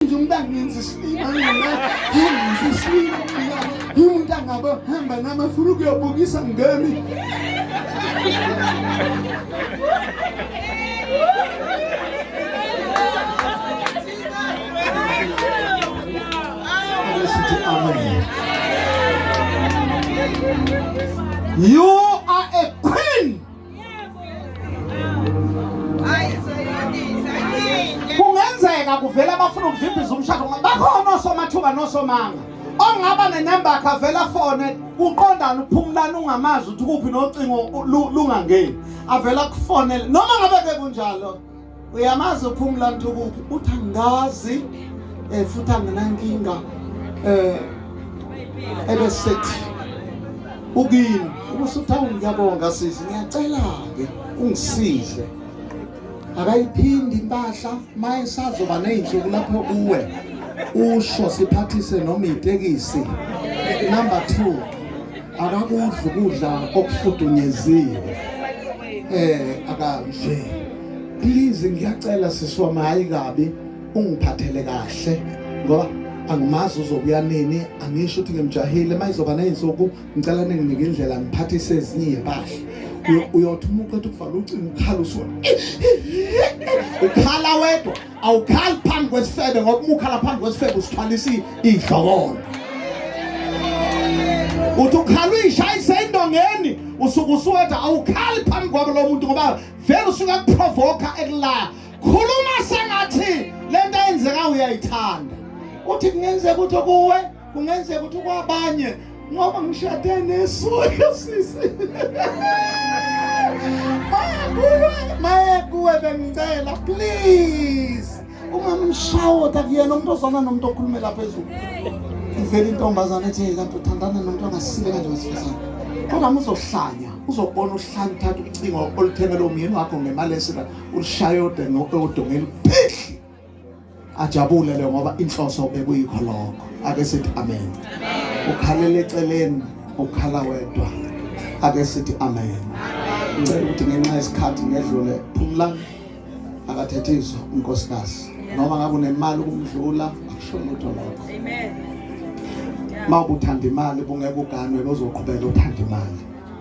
nje umuntu angenza isilima mina ngenza isilima mina umuntu angaba hamba nami afuna ukuyobukisa ngami sithi amen you are a queen kungenzeka kuvela abafuna ukuvimbiza umshado bakhona osomathuba nosomanga ongaba nenembakhe avela afone kuqondana uphumulani ungamazi ukuthi kuphi nocingo lungangeni avela kufonele noma ngabe bekunjalo uyamazi uphumula ntukubi uthi angazi um futhi anginankinga um ebesethi ukini ubusuthawu ngiyabonga sisi ngiyacela-ke ungisize akayiphindi impahla ma esazoba ney'nsuku lapho kuwe usho siphathise noma itekisi number two akakudli ukudla okufudunyeziwe eh akanje please ngiyacela sisi wami hayi kabi ungiphathele kahle ngoba angimazi uzobuya nini angisho ukuthi ngimjahile uma izoba ney'nsuku ngicela ninginike indlela ngiphathise ezinye iy'mpahla uyothi umuntu ethi ukuvala ucingo ukhala usuka ukhala wedwa awukhali phambi kwesifebe ngoba uma ukhala phambi kwesifebe usithwalisa idlokolo uthi ukhala uyishayise indongeni usuke usuwetha awukhali phambi kwabo lo muntu ngoba vele usuke akuprovoka ekulaya khuluma sengathi le nto eyenzeka uyayithanda uthi kungenzeka ukuthi kuwe Kungenzeka ukuthi kwabanye ngoba ngishade nesoka sisi. Mayakuwe, mayakuwe bengicela please. Uma mshawota kuyena umuntu ozana nomuntu okhulumela phezulu. Ivela intombazana ethi kanti uthandana nomuntu ongasile kanje wesifazane. Kodwa muzohlanya, uzobona uhlanya uthatha ucingo oluthengele umyeni wakho ngemali esika ulishaye odenge odongeni. Phih! ajabule le ngoba inhloso bekuyikho lokho ake sithi amen ukhalela eceleni ukhala wedwa ake sithi amen ngicela ukuthi ngenxa yesikhathi ngedlule phumlani akathethiswa unkosikazi noma ngabe unemali ukumdlula akusho lutho lokho amen mawukuthanda imali bungeke uganwe lozoqhubeka uthanda imali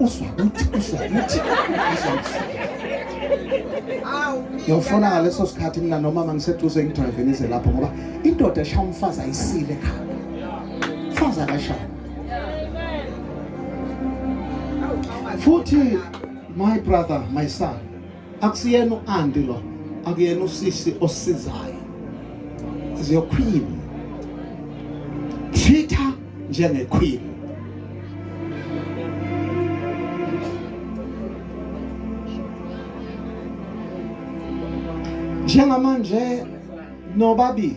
uzwa ukuthi uzwa ukuthi ngiyofona ngaleso sikhathi mina nomama ngiseduze ngidrive nize lapho ngoba indoda eshaya umfazi ayisile ekhanda umfazi akashaya futhi my brother my son akusiyena u-anti lo akuyena usisi osizayo is your queen treat her njengequeen njengamanje nobabili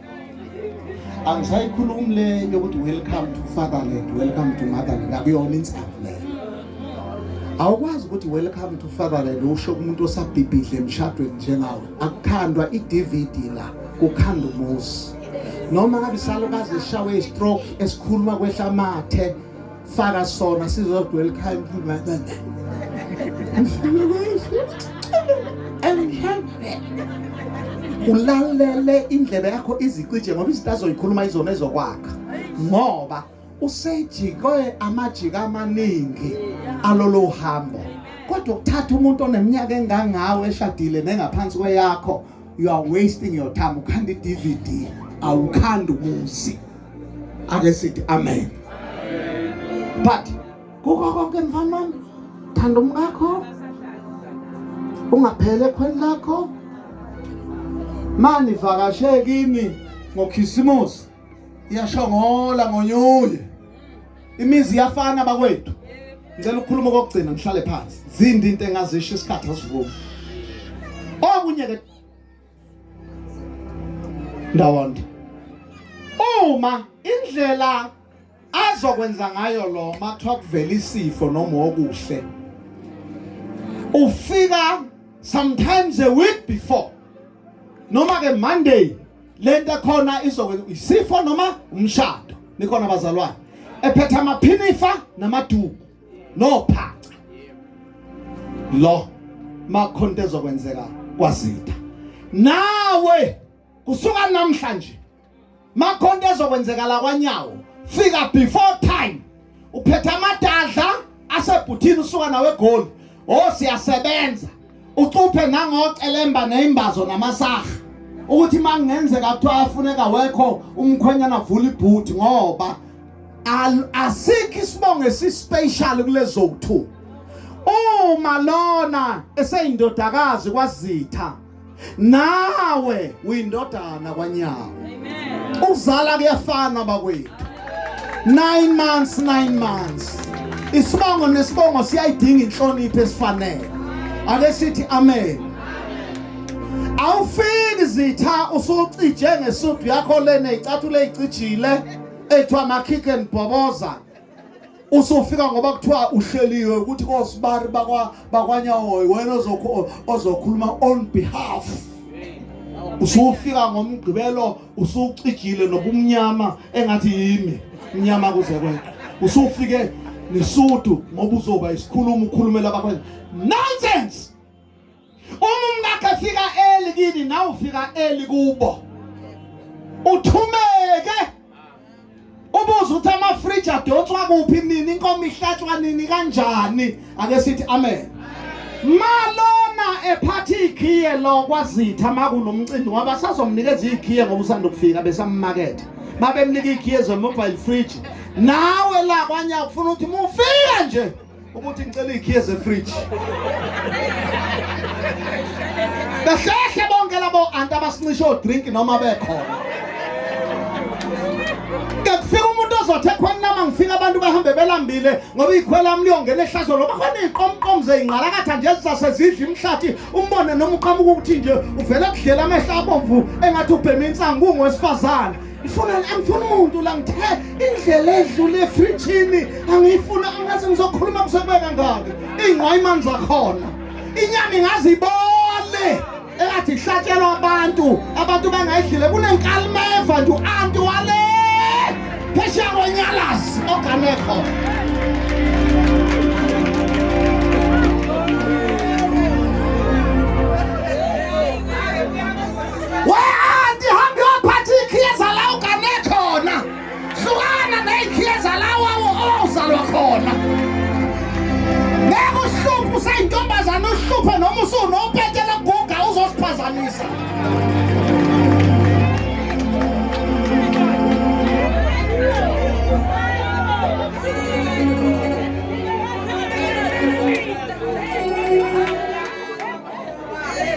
angisayikhulumi le yokuthi welcome to fatherland welcome to motherland akuyona insangu leyo awukwazi ukuthi welcome to fatherland usho kumuntu osabhibhidle emshadweni njengawe akukhandwa i-dvd la kukhanda umuzi noma ngabe isalukazi eshawe istroke esikhuluma kwehla amathe faka sona sizodwa elikhaya ulalele indlebe yakho izicije ngoba izinto azoyikhuluma izona ezokwakha ngoba usejikwe amajika amaningi alolo hambo kodwa ukuthatha umuntu oneminyaka engangawe eshadile nengaphansi kweyakho you are wasting your time ukhanda i-dvd awukhanda umuzi ake sithi amen but kukho konke mfana wami thanda umkakho ungaphele ekhweni lakho mani vakashe kimi ngokhisimusi iyashongola ngonyuye imizi iyafana bakwethu ngicela ukukhuluma kokugcina ngihlale phansi zindi into engazisho isikhathi asivumi okunye ke ndawonde uma indlela azokwenza ngayo lo mathiwa kuvela isifo noma okuhle ufika sometimes a week before noma ke monday lento khona izokwenza isifo noma umshado nikhona bazalwane ephethe amaphinifa namaduku nophaca lo makhonto ezokwenzeka kwazitha nawe kusuka namhlanje makhonto ezokwenzeka la kwanyawo fika before time uphetha amadadla asebhuthini usuka nawe egoli oh siyasebenza ucuphe nangocelemba neyimbazo namasaha ukuthi uma kungenzeka kuthiwa afuneka wekho umkhwenyana avula ibhuthi ngoba asikho isibongo esispecial kulezo ku-2 uma lona eseyindodakazi kwazitha nawe uyindodana kwanyawo ukuzala kuyafana bakwethu 9 months 9 months isibongo nesibongo siyayidinga inhlonipho esifanele ake sithi amen awufiki zitha usucije ngesudu yakho lena icathulo eyicijile ethiwa makhike nibhoboza usufika ngoba kuthiwa uhleliwe ukuthi kosibari bakwa bakwanyawoyi wena ozokho ozokhuluma on behalf usufika ngomgqibelo usucijile nobumnyama engathi yimi mnyama kuze kwekho usufike nisudu ngoba uzoba isikhuluma ukhulumela abakwenza nonsense Uma umkakhe efika early kini nawe ufika early kubo. Uthumeke. Ubuza ukuthi ama fridge adonswa kuphi nini inkomo ihlatshwa nini kanjani ake sithi amen. Malona ephatha ikhiye lo kwazitha makunomcimbi ngoba sazomnikeza ikhiye ngoba usanda ukufika besammakethe. Babemnika ikhiye ze mobile fridge. Nawe la kwanya ufuna ukuthi mufike nje ukuthi ngicela ikhiye zefridge behlehle bonke labo anti abasincisha odrink noma bekhona kekufika umuntu ozothi ekhweni lama ngifika abantu bahambe belambile ngoba ikhwela lami liyongena ehlazo loba khona iy'qomqomu zeyingqalakatha nje zisasezidla imhlathi umbone noma uqhamuka ukuthi nje uvele kudlela amehlo abomvu engathi ubhema insangu ungowesifazane ngifuna angifuna umuntu la ngithe indlela edlule efrijini angiyifuna angathi ngizokhuluma kusebeka ngaki ingqwayimani zakhona inyama ingazibole engathi ihlatshelwa abantu abantu bangayidlile kunenkalimeva nje u-anti wale phesheya konyalazi oganekho Weanti hambe waphatha iikhiye zalawo kane khona. Hlukana neikhiye zalawo ozalwa khona. Ngeke uhluphe usayintombazana uhluphe noma usunopete lokuguga uzosiphazamisa.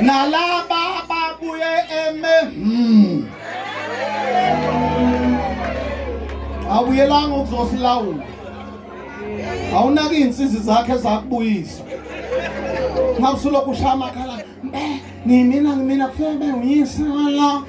nalaba ababuye eme hmm. awuyelanga ukuzosilawula awunaki iy'nsizi zakhe zakubuyisa ngabe usulokhu ushaya amakhala ngimina ngimina kufanele bengiyise wala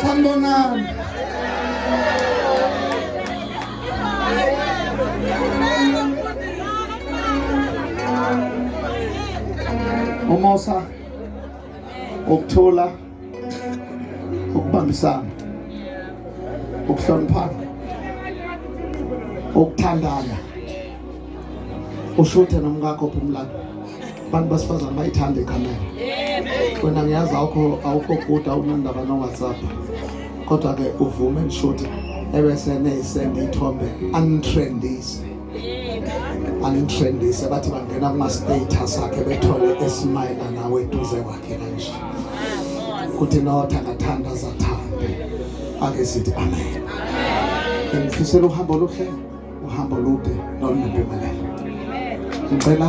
Sanibonani. Umusa ukuthula ukubambisana ukuhloniphana ukuthandana ushuthe nomkakho phumlani abantu basifazane bayithanda ikamera wena ngiyazi awukho awukho kude awunandaba no-whatsapp kodwa-ke uvume nishuthe ebese neyisende ithombe angitrendise angitrendise bathi bangena kuma-status akhe bethole esimayela nawe eduze kwakhe kanje kuthi nothangathanda zathanda ake sithi amen ngifisela uhambo oluhle uhambo lude nolunempumelelo. Ngicela